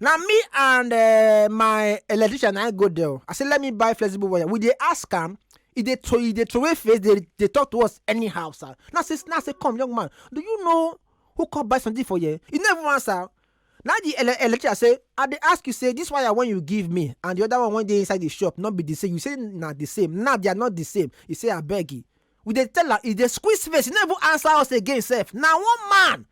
na me and uh, my electrician na I go there o. i say let me buy flexible wire we dey ask am e dey throw e dey throw away face dey dey talk to us anyhow sir na say na say come young man do you know who come buy something for here you no even answer na the ele electrician say i dey ask you say this wire wey you give me and the other one wey dey inside the shop no be the same you say na the same now they are not the same he say abeg e we dey tell am e dey squeeze face e no even answer us again sef na one man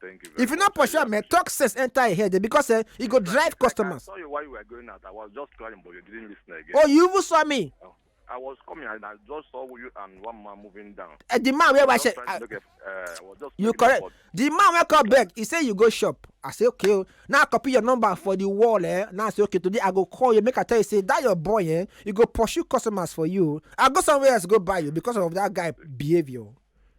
Thank you very If you no much. pursue am, man, talk sense enter your head eh, because eh, e go drive customers. I saw you while you were going out. I was just crying, but you didn't listen again. Oh, you even saw me. Oh, I was coming and I just saw you and one man moving down. Uh, the man where was uh, uh, you correct. The man where come back, he say you go shop. I say okay. Oh. Now copy your number for the wall. Eh? Now I say okay. Today I go call you. Make I tell you say that your boy. Eh? You go pursue customers for you. I go somewhere else go buy you because of that guy behavior.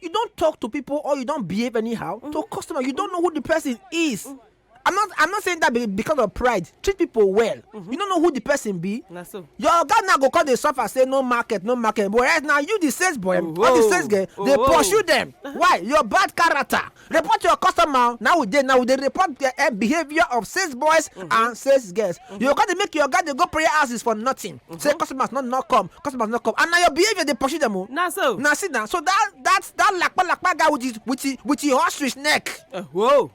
you don talk to people or you don behave anyhow mm -hmm. to mm-hmm. customer you don't know who the person is mm -hmm. i'm not i'm not saying that because of pride treat people well mm -hmm. you don't know who the person be na so your oga now go come dey suffer say no market no market but right now you the sales boy oh, or the sales girl oh, dey pursue them uh-huh. why your bad character report your customer now we dey now we dey report the uh, behaviour of sales boys mm -hmm. and sales girls mm -hmm. you go come dey make your oga dey go prayer houses for nothing. say customers no no come customers no come and na your behaviour dey pursue dem o na so na see na so that that that lakpa lakpa guy with his with his with his ostrich neck Eh, whoa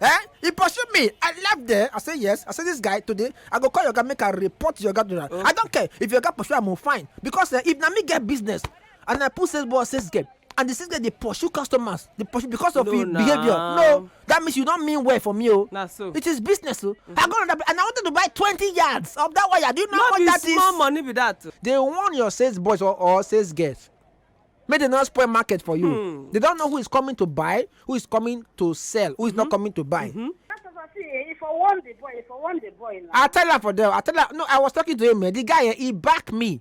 eh he pursue me i left there i say yes i say this guy today i go call your guy make i report your guy to that i don't care if your guy pursue am o fine because eh, if na me get business and I put sales boy as sales girl and the sales girl dey pursue customers dey pursue because of no, him nah. behavior no that means you don mean well for me o oh. nah, so. it is business o oh. mm -hmm. I go on that and I wanted to buy twenty yards of that wire do you know no what that is no be small money be that oh. they warn your sales boys or, or sales girls make they not spoil market for you hmm. they don't know who is coming to buy who is coming to sell who is mm -hmm. not mm-hmm. coming to buy. Mm -hmm. If I want the boy, if I want the boy. Now. I tell her for them. I tell her no. I was talking to him. Eh, the guy eh, he back me.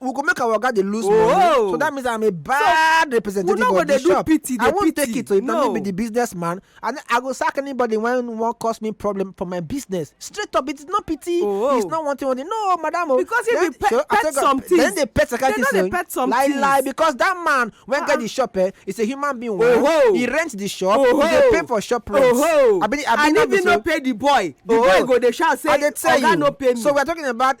we go make our oga dey lose money oh. so that means i'm a bad representative of the shop i won't take it so if na me be the business man and i go sack anybody when wan cause me problem for my business straight up it is not pity oh. it's not one thing one thing no madam o oh. because if you pet pet some things then they pet security say lie lie because that man wey get ah. the shop eh is a human being wey he rent the shop he dey pay for shop rent and if he no pay the boy the boy go dey shout say oga no pay me so we are talking about